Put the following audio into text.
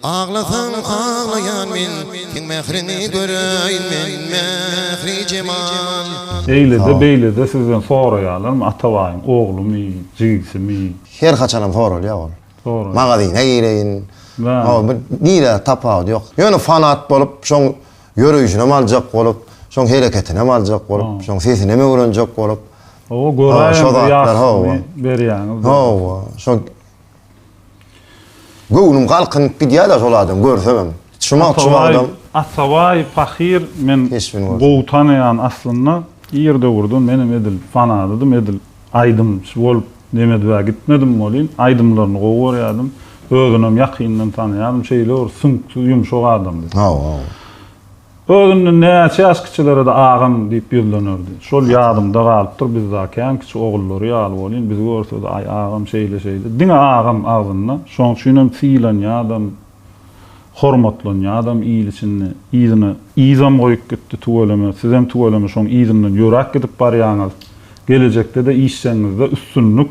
Aglasaň aglaýan men, seň mähriňi göräýin men, Mähri-jemal. Eýlede beýlede sizden soraýalarmy Atabaýyň oglumy, jigisimi? Her haçanam soralýa ol. Soraýa. Magazyna gireýin. Hol bir nirä tapawudy ýok. Ýöne fanat bolup şoň ýöreýşinem aljak bolup, şoň hereketinem aljak bolup, şoň sesinem öwrenjek bolup. Hawa göräýen bir ýagşysyny berýäňiz. Hawa, şo. Göwnüm galkynyp gidýäda şol adam görsegem. Çumak çumagdam. Atabaý pahyr men gowy tanaýan aslynda ir döwürde menem edil fanadydym edil aýdymçy bolup nemedibä gitmedim welin aýdymlaryny gowy görýädim özünem ýakyndan tanaýadym şeýle bir süňkdi ýumşak adamdy. Hawa. Öz indi näçe ýaş kiçilere-de agam diýip ýüzlenerdi. Şol ýadymda galypdyr, biz da kän kiçi ogullary ýaly bolýan, bizi görse-de, aý, agam şeýle-şeýle, diňe agam agzynda. Şoň üçinem sylanýadam, hormatlanýadam il içinde. Yzyna yzam goýup gitdi, tüweleme, sizem tüweleme şoň yzyndan ýöräp gidip barýaňyz. Gelejekde-de işjegiňizde üstünlik.